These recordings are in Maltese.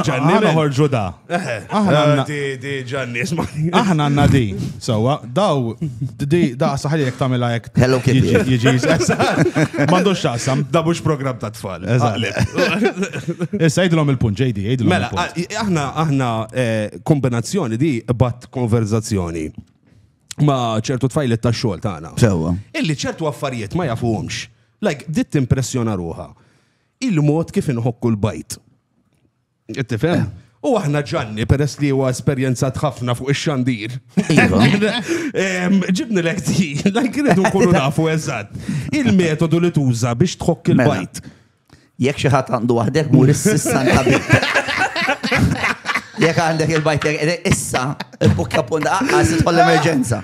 Ġanni, noħorġu da. Aħna di ġanni, ismani. Aħna għanna di. Sawa, daw, di, da saħli jek tamela jek. Hello Kitty. Jiġi, mandux xaqsam. Da bux program ta' tfal. Issa jidlom il-punt, ġejdi, jidlom. Mela, aħna, aħna eh, kombinazzjoni di bat konverzazzjoni ma ċertu tfajlet ta' xol ta' għana. Sewa. Illi ċertu affarijiet ma jafuhomx. Like, dit impressjona ruħa. Il-mod kif inħokku l-bajt. Tifhem? U aħna ġanni, peress li huwa esperjenzat ħafna fuq ix-xandir. Iva. Ġibni l di, la kienet nkunu nafu eżatt. Il-metodu li tuża biex tħokk mela, il-bajt. Jekk xi ħadd għandu waħdek mur is-sissan ta' Jek għandek il-bajt issa, il-bukja punta, għas l-emerġenza.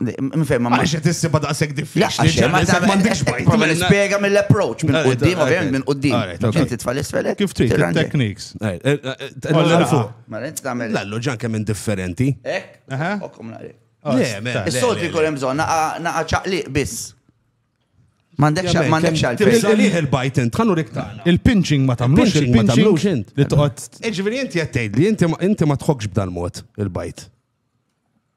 Mifem, ma Għax qed issibha daqshekk diffiċli. Għax ma ta' m'għandix bajt. Prova nispjega mill-approach minn qudiem, ovvjament minn qudiem. Ġin titfa' l-isfel. Kif trid techniques. Lallu ġan kemm indifferenti. Ek? Okkom naqri. Is-solti jkun hemm bżonn naqa' ċaqliq biss. M'għandekx m'għandekx għal Tisalih il-bajt int, ħannu riktana. Il-pinching ma tagħmlux il-pinching int. Li toqgħod. Iġifieri inti qed tgħid li inti ma tħokkx b'dal mod il-bajt.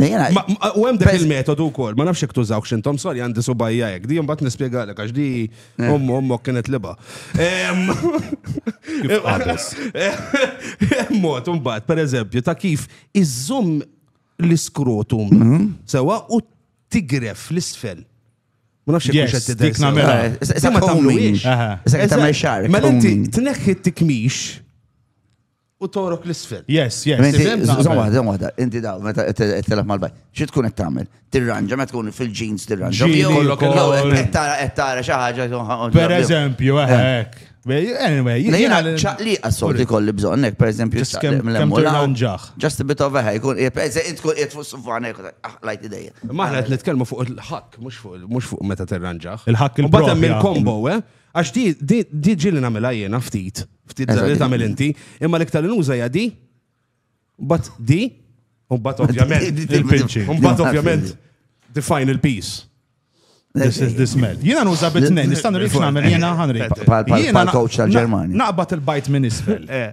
U hemm dak il-metodu wkoll, ma nafx jekk tużaw x'intom, sorry għandi subajja hekk, di mbagħad nispjegalek għax di eh. ommu ommok kienet liba. Mod imbagħad pereżempju ta' kif iżżomm l-iskrotum mhm. sewa u tigref l-isfel. Ma nafx jekk qed tidher. Dik nagħmilha. Sa ma tagħmlux. Sa tagħmel xar. Mela inti tneħħi t-tikmix u torok l-isfel. Yes, yes. Inti, Sibem naqbel. zom waħda, zom waħda, inti daw, meta t-telef mal-bajk, xie tkun qed tagħmel? Tirranġa, meta tkun fil-ġins tirranġa. Ġieli Jew- kollok jew il-ħol. qed tara- qed tara xi ħaġa. tkun- Per eżempju, eh, hekk. Anyway, Le jena jiena ċaqliqa solti kolli bżonn, hekk, per eżempju, Just ċaqliq kemm- mill-hemm kemm u l-hawn. tirranġaħ. Just a bit of a hair, jkun qiegħed- per eżempju, tkun qiegħed fuq sufan hekk, ah, lajt idejja. Maħna qed nitkellmu fuq il-ħakk, mhux fuq mhux fuq meta tirranġaħ. Il-ħakk Mbagħad hemm il-propja. il-combo, eh? Għax di, di, di ġili namela jena ftit, ftit Eżatt. li tamil inti, imma l-iktar li nuża hija di, bat di, u bat ovvjament, Di- di- il-pinċi. u bat ovvjament, define il-peace. This is the smell. Jiena nuża bit-tnejn, nistannu li xnamel jiena ħanri. Pal- pal- pal-coach tal-Ġermanja. Naqbad il-bajt minn isfel. Eh.